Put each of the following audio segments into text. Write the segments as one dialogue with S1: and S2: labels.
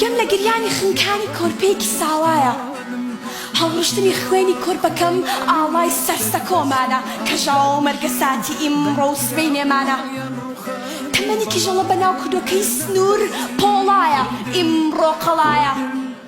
S1: گەم لە گریانی خنکانی کۆرپەیەکی ساوایە هەڵڕشتنی خوێنی کۆرپەکەم ئاڵای سەر سەکۆمانە کەژاوە و مەرگە ساتی ئیمڕۆ و سبەینێمانە تەمەنی کیژەڵە بەناو کودۆکەی سنوور پۆڵایە ئیمڕۆ قەڵایە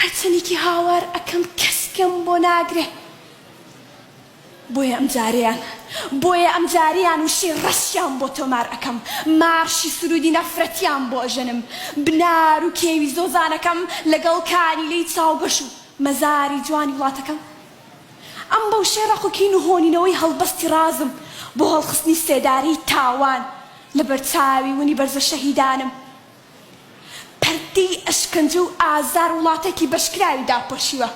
S1: قەچەلیکی هاوار ئەکەم کەس گوێم بۆ ناگرێ بۆیە ئەمجارەیان بۆیە ئەمجارەیان وشەی ڕەشیان بۆ تۆمار ئەکەم مارشی سرودی نەفرەتیان بۆ ئەژەنم بنار و کێوی زۆزانەکەم لەگەڵ کانیلەی چاوگەش و مەزاری جوانی وڵاتەکەم ئەم بەوشەی ڕەق و کین و هۆنینەوەی هەڵبەستی ڕازم بۆ هەڵخستنی سێدارەی تاوان لەبەرچاوی ونی بەرزە شەهیدانم پەردەی ئەشکەنجە و ئازار وڵاتێکی بەشکراوی داپۆشیوە،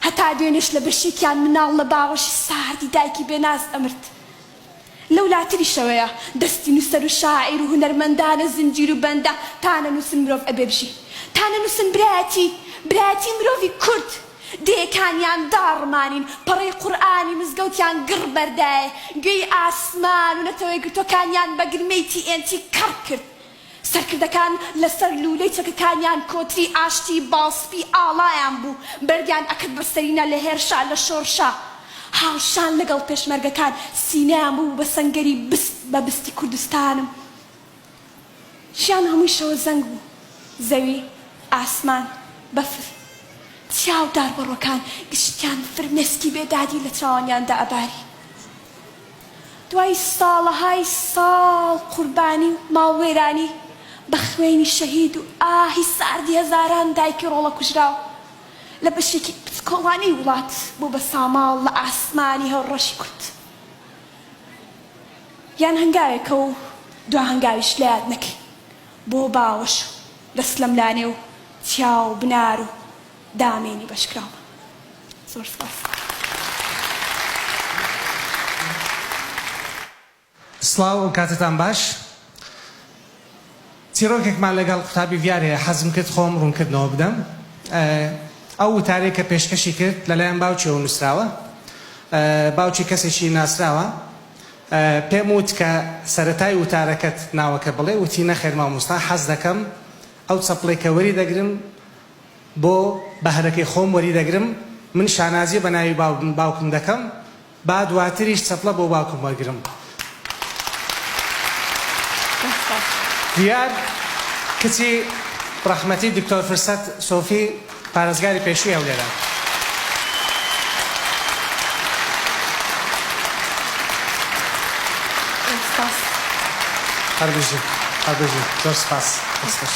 S1: هەتا دوێنێش لە بەشیکیان مناڵ لە باوەشی ساردی دایکی بێ ناز ئەمرد. لەولاتریشەوەیە دەستی نوسەر و شاعیر و هونەرمەندانە زنجیر و بەندە، تا نەنوسن مرۆڤ ئەبێ بژی. تا نەنوسن برایەتی، برایەتی مرۆڤی کورد، دێکانیان داڕمانین، پەڕەی قورئانی مزگەوتیان گڕ بەردایێ، گوێی ئاسمان و نەتەوە یەکگرتووەکانیان بە گرمەی تی ئێن تی کەڕ کرد. سەرکردەکان لە سەر لوولەی چەکەکانیان کۆتری ئاشتی باڵ سپی ئاڵایان بوو، بەردیان ئەکرد بە سەرینە لە هێرشا لە شۆڕشا. هاوشان لە گەڵ پێشمەرگەکان سینەیان ببوو بە سەنگەری بست بە بستی کوردستانم. ژیان هەمووی شەوە زەنگ بوو، زەوی، ئاسمان، بەفر، چیا و داربەڕۆکان گشتیان فرمێسکی بێدادی لە چاوانیان دەئەباری. دوای ساڵەهای ساڵ قوربانی و ماڵوێرانی بە خوێنی شەهید و ئاهی ساردی هەزاران دایکی ڕۆڵە کوژراو، لە بەشێکی بچکۆڵانەی وڵات بوو بە ساماڵ لە ئاسمانی هەورەشی کورد. یان هەنگاوێکە و دوا هەنگاویش لە یاد نەکەین بۆ باوەش و دەست لەم لا نێو چیا و بنار و دامێنی بەشکراومان. زۆر سپاس. سڵاو و کاتتان باش.
S2: چیڕۆکێکمان لەگەڵ قوتابی ڤیار هەیە حەزم کرد خۆم ڕوونکردنەوە بدەم ئەو وتارەی کە پێشکەشی کرد لەلایەن باوکیەوە نووسراوە باوکی کەسێکی ناسراوە پێم وت کە سەرەتای وتارەکەت ناوەکە بڵێ وتی نەخێر مامۆستا حەز دەکەم ئەو چەپڵەی کە وەری دەگرم بۆ بەهرەکەی خۆم وەری دەگرم من شانازی بە ناوی باوکم دەکەم با دواتریش چەپڵە بۆ باوکم وەرگرم. دیار کچی ڕەحمەتی دکتۆر فرسەت سۆفی پارێزگاری پێشووی هەولێرە. هەر بژی هەر بژی زۆر سپاس دەست خۆش.